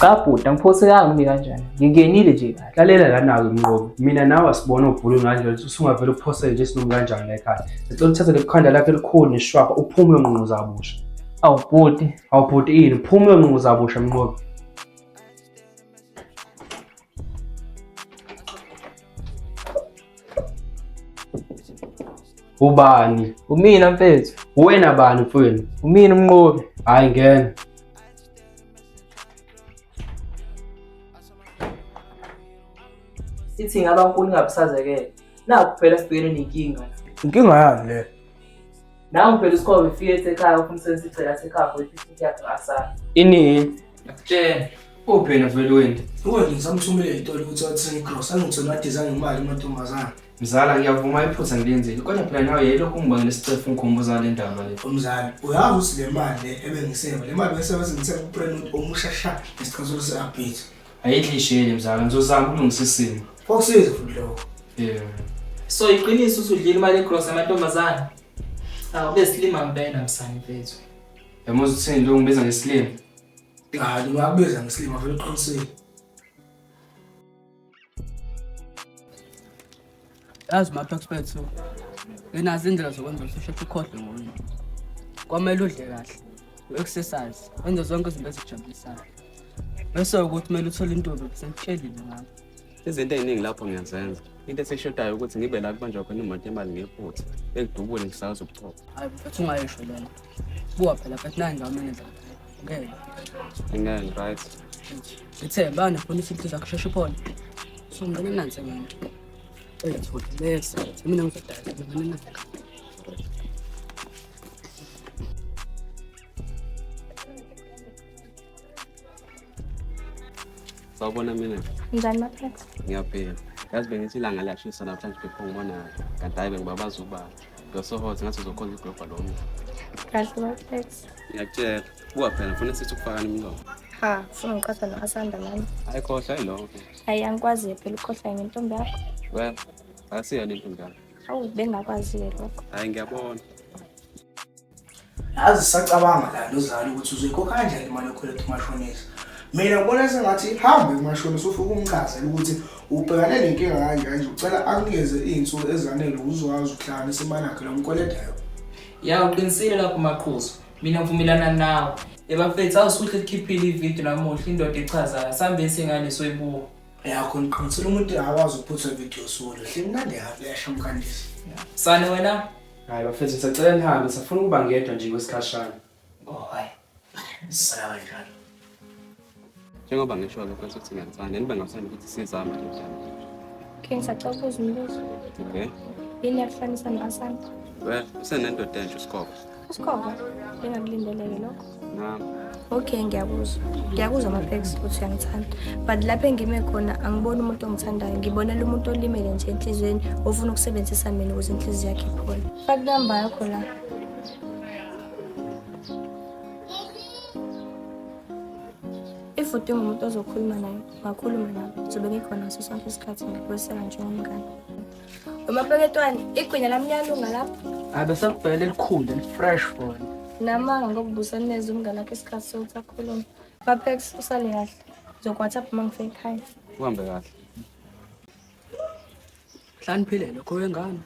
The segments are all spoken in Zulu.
cha bhuti angiphosekanga umi kanjani ngingenile nje kahle lalela lana-ke mnqobi mina nawe asibone ubhulu nganje usungavele uphosele nje sinomi kanjani la ekhaya ngicela uthathe lekhanda lakho elikhulu neshwapha uphume uyonqunquza kabusha awu bhuti awu bhuti ini uphume uyonqunquza kabusha mnqobi ubani umina mfethu uwena bani mfowenu umina umnqobi hhayi ngena ithi ngaba nkulu ingabusazekele naku phela sibhekene nenkinga inkinga yani le nangu phela usikhobe ufike esekhaya ufuna usebenza igcela sekhaya for i-fifty yakhe asala ini ngakutshela uphi navelweni uwe ngisamthumele itolo ukuthi wathenge igrosa angitholi adizange imali amantombazane Mzala ngiyavuma iphutha ngilenzile kodwa phela nawe yayilokhu ungibangela isicefu ngikhumbuza le ndaba le. Umzali, uyazi ukuthi le mali le ebengiseva, le mali bengisebenza ngithenga uprenote omusha sha ngesikhathi se-update. Ayidli isheli mzala ngizozama ukulungisa isimo. Kwakusiza futhi lokho. Yeah. So iqiniso usudlile imali egross amantombazane. Awu besilima ngempela msane mfethu. Yamuzi uthini lo ngibiza ngesilima. Hayi, ungakubiza ngesilima vele uqinisile. yazi mapex bethu nginazo indlela zokwenza ukuthi usheshe ukhohlwe ngoyini kwamele udle kahle u-exercise wenze zonke izinto ezijabulisayo bese ukuthi kumele uthole intombi besengitshelile ngabo izinto ey'ningi lapho ngiyazenza into esishodayo ukuthi ngibe la kubanjwa khona imoto yemali ngephutha ekudubule ngisakwazi ukuchopha hayi mfethu ungayisho lena buwa phela mfethu nayi ngiwamenenza ngeke ngeke right ngithe bana funa isinto zakho sheshe uphone so ngicela nansi mina eyathola bese mina ngizodala ngizodala nansi sawubona mina njani maphetha ngiyaphila yazi bengithi ilanga liyashisa namhlanje bepho ngibona kanti hayi bengibabaza ubala You're so hot, ngathi uzokhonza iglobha lo mdla. Kahle bafethu. Ngiyakutshela. Buka phela ngifuna sithi ukufakana imilomo. Ha, funa ngiqatha no-Asanda mani. Hayi khohlwa yiloko. Hayi angikwazi phela ukhohlwa ngentombi yakho. Well, asiyona intombi yakho. Awu bengakwazi-ke lokho. Hayi ngiyabona. Yazi sacabanga la lozalo ukuthi uzoyikhokha kanjani imali yokukhweleta umashonisa. Mina ngibona sengathi hambe kumashonisa ufike umchazele ukuthi ubhekane nenkinga kanje kanje ucela akunikeze iy'nsuku ezanele uzokwazi ukuhlanganisa imali yakhe lo mkweletayo. Ya uqinisile lapho maqhuzu. Mina ngivumelana nawe. Ebafethu awusuhle likhiphile ividiyo namuhla indoda echazayo. Sambe singane soyibuka. Yakho ngiqinisile umuntu akakwazi ukuphutha ividiyo solo. Hle mnandi yakho yashamkandisa. Sane wena Hayi bafethu ngisacela nihambe safuna ukuba ngedwa nje kwesikhashana. Oh hayi. Sala kanjalo. Njengoba ngisho lokho ukuthi ngiyakuthanda, nibe ngathanda ukuthi sizame nje njalo. Okay, ngisacela ukubuza umbuzo. Okay. Yini yakuhlanisa nabasana? Well, usenendoda entsha uSikhoba. Usikhova, bengakulindeleke lokho. nami okay ngiyakuzwa ngiyakuzwa mapex ukuthi uyangithanda but lapho engime khona angiboni umuntu ongithandayo ngibonela umuntu olimele nje enhliziyweni ofuna ukusebenzisa mina ukuze inhliziyo yakhe iphole faka inamba yakho la if udinga umuntu ozokhuluma naye ngakhuluma naye zobe ngikhona ngaso sonke isikhathi ngikweseka njengomngane Umapeketwane, igwinya lamnyalunga lapho. Abesakubhela elikhulu elifresh for Namanga ngokubusa neze umngane wakhe isikhathi sokuthi akhulume. Bapex usale kahle. Zokwathapp uma ngifika ekhaya. Uhambe kahle. Hlaniphile lokho wengane.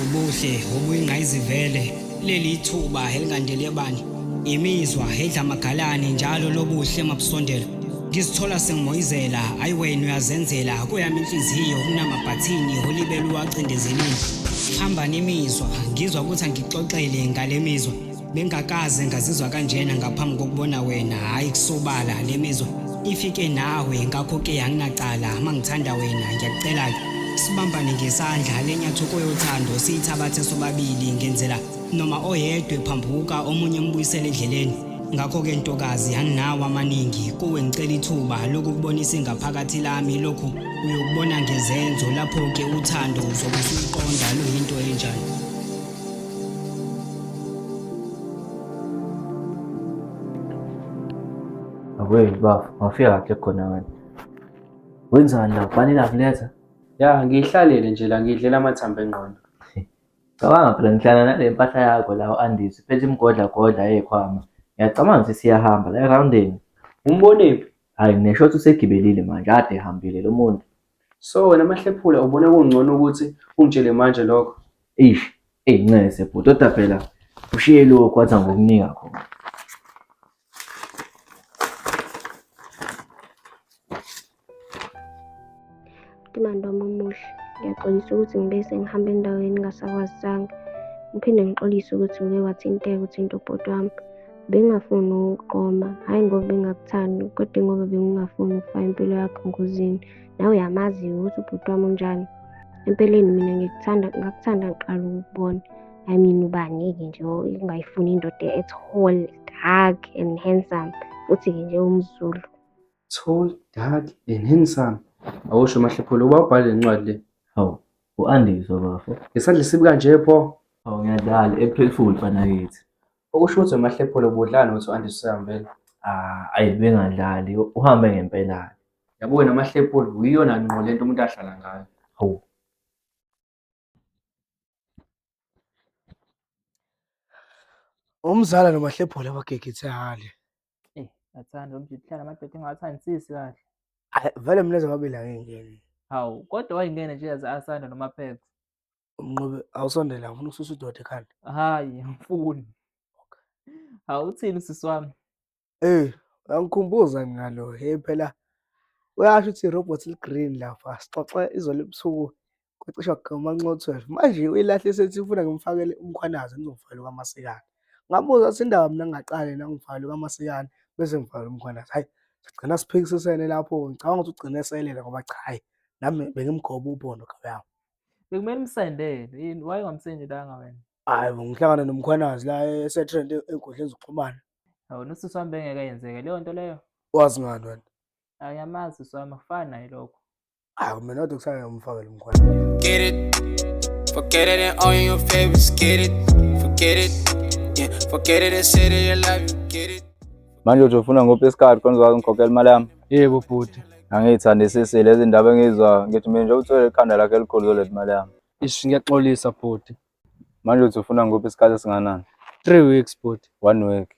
ubuhle obuyingqayizivele leli ithuba elingandele bani imizwa edla amagalane njalo lobuhle mabusondela ngizithola sengimoyizela ayi wena uyazenzela kuyami inhliziyo kunamabhathini olibele uwacindezelile hamba nemizwa ngizwa ukuthi angixoxele ngale mizwa Bengakaze ngazizwa kanjena ngaphambi kokubona wena hayi kusobala le mizwa ifike nawe ngakho ke anginacala mangithanda wena ngiyakucela ke sibambane ngesandla lenyathoko yothando siyithabathe sobabili ngenzela noma oyedwe phambuka omunye mbuyisele endleleni ngakho ke ntokazi anginawo amaningi kuwe ngicela ithuba lokukubonisa ingaphakathi lami lokhu uyokubona ngezenzo lapho ke uthando uzokusuqonda luyinto enjani Akweli bafo, ngafika kahle khona wena. Wenzani la? Kufanele akuletha? Ya, ngiyihlalele nje la ngidlela amathambo engqondo. Cabanga phela ngihlala nale mpahla yakho la u-Andisi phethe imigodlagodla yekhwama. Ngiyacabanga ukuthi siyahamba la erhawundeni. Umbonephi? Hhayi ngineshotha usegibelile manje, kade ehambile lo muntu. So wena mahlephula ubona kungcono ukuthi ungitshele manje lokho. Eish, eyi ncese bhuti kodwa phela ushiye lokhu wathi angokunika khona. Timando wami omuhle, ngiyaxolisa ukuthi ngibe sengihamba endaweni engingasakwazisanga. Ngiphinde ngixolise ukuthi ngike wathinteka uthinta ubhuti wami. Bengingafuni ukuqoma, hhayi ngoba bengingakuthandi kodwa ingoba bengingafuni ukufaka impilo yakho engozini. Nawe uyamazi-ke ukuthi ubhuti wami unjani. Empeleni mina ngikuthanda ngakuthanda ngiqala ukukubona. I mean ubani-ke nje ongayifuni indoda e-tall, dark and handsome futhi-ke nje umZulu. Tall, dark and handsome. Awusho Mahlephula uba ubhale le ncwadi le. Hawu, u-Andiswa bafo. Ngesandla esibi kanje pho. Hawu ngiyadlala, April Fool mfanakithi. Okusho ukuthi uMahlephole ubudlala nokuthi u-Andries usehambele. Ah, ayi bengadlali uhambe ngempela. Yabo wena Mahlephole uyiyona ngqo lento umuntu ahlala ngayo. Hawu. Umzala noMahlephole abagegithe hale. Eh, athanda umjita uhlala amadoda engawathandisisi kahle. Ay, Vele mina zababili angingeni. Hawu, kodwa wayingene nje yaze asanda noMaphepha. Umnqobe awusondele awufuna ukususa udoda ekhanda. Hayi, angifuni. Hawu uthini sisi wami? Eh, uyangikhumbuza ngalo. Hey phela uyasho ukuthi irobot ligreen lapha. Sixoxe izolo ebusuku kwacisha kugama nxo 12. Manje uyilahle sethi ufuna ngimfakele umkhwanazi ngizomfakela kwamasikana. Ngabuza ukuthi indaba mina ngingaqale na ngimfakele kwamasikana bese ngifakela umkhwanazi. Hayi, sigcina siphikisisene lapho. Ngicabanga ukuthi ugcine eselela ngoba cha hayi nami bengimgoba ubhondo kawuyami. Bekumele umsendele yini? Why ungamsendelanga wena? Hayi bo, ngihlangane nomkhwanazi la esetrend enkundleni zokuxhumana. Awona usisi wami bengeke yenzeke leyo nto leyo. Wazi ngani wena? Ayamazi usisi wami akufani naye lokho. Hayi mina kodwa kusale ngimfakele umkhwanazi. Get it. Forget it and all your favorites. Get it. Forget it. Yeah. Forget it and say that you love you. Get it. Manje uthi ufuna ngophi isikhathi khona uzokwazi ngikhokhela imali yami? Yebo bhuti. Angiyithandisisi lezi ndaba engizwa ngithi mina nje uthwele ikhanda lakhe elikhulu zoletha imali yami. Ish ngiyaxolisa bhuti. Manje uthi ufuna ngophi isikhathi esinganani? Three weeks bhuti. One week,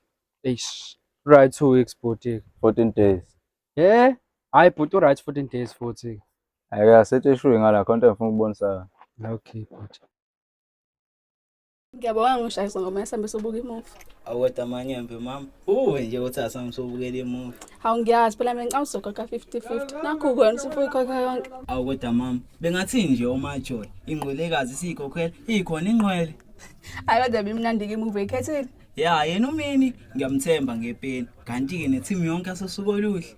Eish. Right two weeks bhuti. 14 days. Eh? Hayi bhuti uright 14 days futhi. Ake asithi ishuyi ngala khona into engifuna ukubonisa yona. Okay bhuti. Ngiyabonga ngishayisa ngoma yasambe sobuka imuvi. Awukweta amanyembe mama. Uwe nje uthi asambe sobukela imuvi. Hawu ngiyazi phela mina ngicawusoka ka 50-50. Nakho kwena usufuyikhokha yonke. Awukweta mama. Bengathini nje umajola ingqwelekazi siyikhokhela ikhona ingqwele. Hayi kodwa bimnandi ke imuvi ekhethile. Ya yena umini ngiyamthemba ngepeni. Kanti ke ne team yonke asosuka oluhle.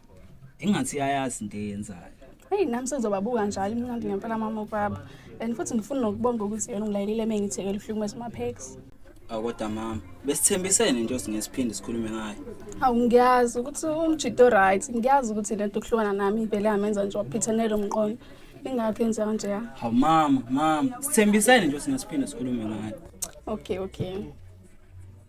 ingathi iyayazi into eyenzayo heyi nami sengizobabuka njalo imnandi ngempela mama ubaba and futhi ngifuna nokubonga ukuthi yena ungilayelile uma ngithekela uhlukumeza umaphekisi awu kodwa mama besithembisene nje singesiphinde sikhulume ngayo hawu ngiyazi ukuthi umjito o-right ngiyazi ukuthi le nto kuhlukana nami ivele yamenza nje waphithanele umqondo ingakho enza kanjeya hawu mama mama sithembisene nje singesiphinde sikhulume ngayo okay okay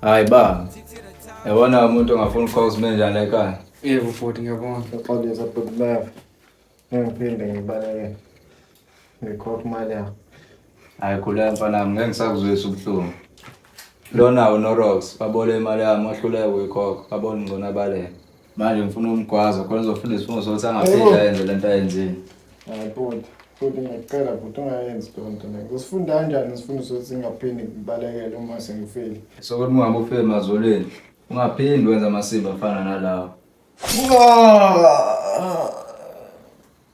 Hayi ba. Yabona umuntu ongafuni ukufaka usimenja la ekhaya. Yebo futhi ngiyabona. Apologize but love. Ngiphinde ngibaleke. Ngikhokha imali yakho. Hayi khuleka mfana wami ngeke ngisakuzwisa ubuhlungu. Lona uNorox babole imali yami wahluleka ukuyikhokha. Babona ngcono abaleke. Manje ngifuna umgwazo khona uzofunda isifungo sokuthi angaphinde ayenze le nto ayenzile. Hayi bhuti, bhuti ngiyacela bhuti ungayenzi loo nto mina. Usifunda kanjani isifundo sokuthi ngingaphinde ngibalekele uma sengifile? Sokuthi ungabe ufike emazolweni ungaphindi wenza amasimba afana nalawa.